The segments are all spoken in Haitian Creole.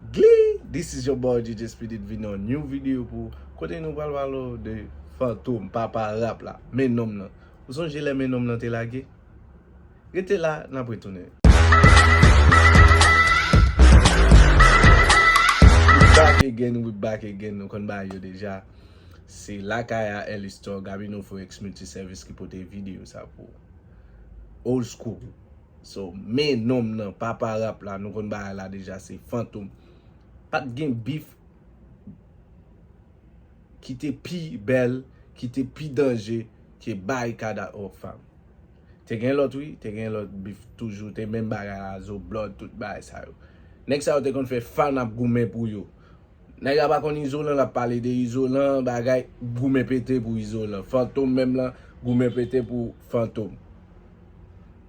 Glee this is your boy JJ Speedy vini yon new video pou ou kote nou pral pale w de Fantom papa rap la men nonm nan ou sonje lè men nonm nan te lage rete la nap retounen. We back again we back again nou konn bagay yo deja se lakay a Ellie Store Gabino Forex Multiservice ki pote video sa pou ou Old School. So men nonm nan papa rap la nou konn bagay la deja se Fantom pat gen beef ki te pi bèl ki te pi danje ke Barikad ak Rockfam te gen lòt wi te gen lòt beef toujou te menm bagay la Zo Blòd tout bagay sa yo nèg sa yo te konn fè fan ap goumen pou yo nèg la pa konn Izolan lap pale de Izolan bagay goumen pete pou Izolan Fantom menm lan goumen pete pou Fantom.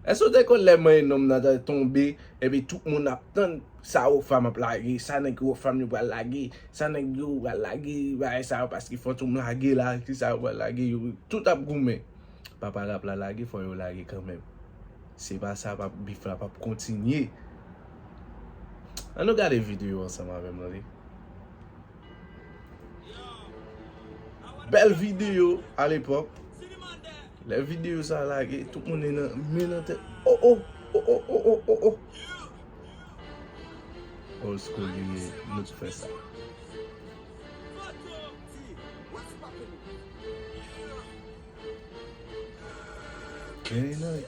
Èske w te konn lè manyen nonm nan ta tonbe epi tout moun ap tann sa Ropham ap lage, sa nèg Ropham yo pral lage, sa nèg yo pral lage bagay sa yo paske Fantom lage la, kisa yo pral lage, yo tout ap goumen. Papa rap la lage fò yo lage kanmenm. Se pa sa pap bif la pap kontinye. An nou gade video ansanm avè m tande. Bèl video a lepòk. Lè video sa a lage, tout moun nan men nan tèt. O o, o o, o o, o o. Old school li ye, nou t fè sa. Very nice.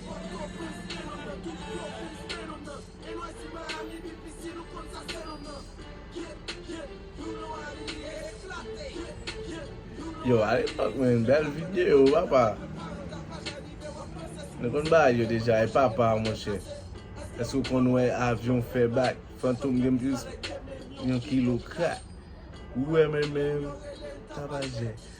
Yo alepòk men bèl video papa Nou konn bagay yo deja e papa monchè Èske ou konn wè avyon fè bak Fantom gen plis yon kilo krak Ou wè men men Tabajè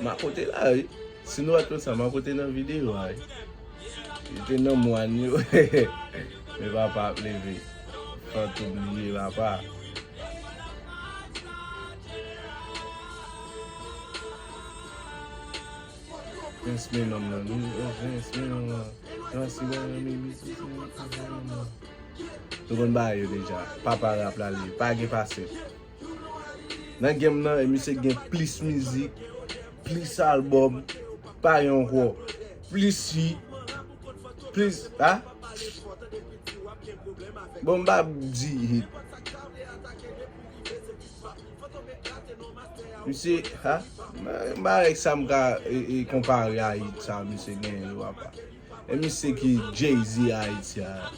Marco te la wi. Si nou pat konn sa Marco te nan video a wi. Li te nan mwann yo. Men papa ap leve. Fantom li ye papa. Prince men nonm nan wi. Prince men nonm nan. Prince men nonm nan. Prince men nonm nan. Yo konn bagay yo deja. Papa rap la li ye. Pa gen pase. Nan game nan e misye gen plis mizik, plis album pa gen ankò, plis si, plis sa. Bon m pa di hit. Misye ha, m pa wè sa m ka konpare a hit sa misye genyen yo apa. E misye ki jay-z ayiti a.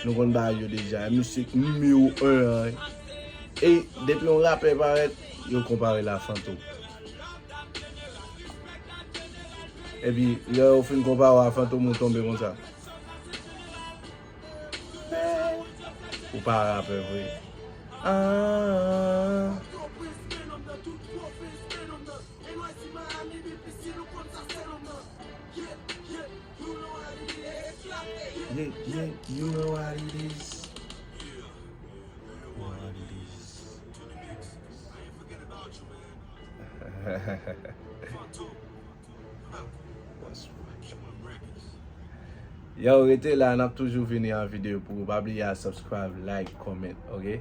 Nou konn bagay yo deja. E misye ki nimewo 1 an. E depi yon rapè parèt, yo konpare l a Fantom. E pi lè yo fin konpare w a Fantom ou tonbe konsa. Ou pa rapè vre. Aah. Yow rete la nap toujou vini an video pou ou pa bliye a subscribe like comment ok.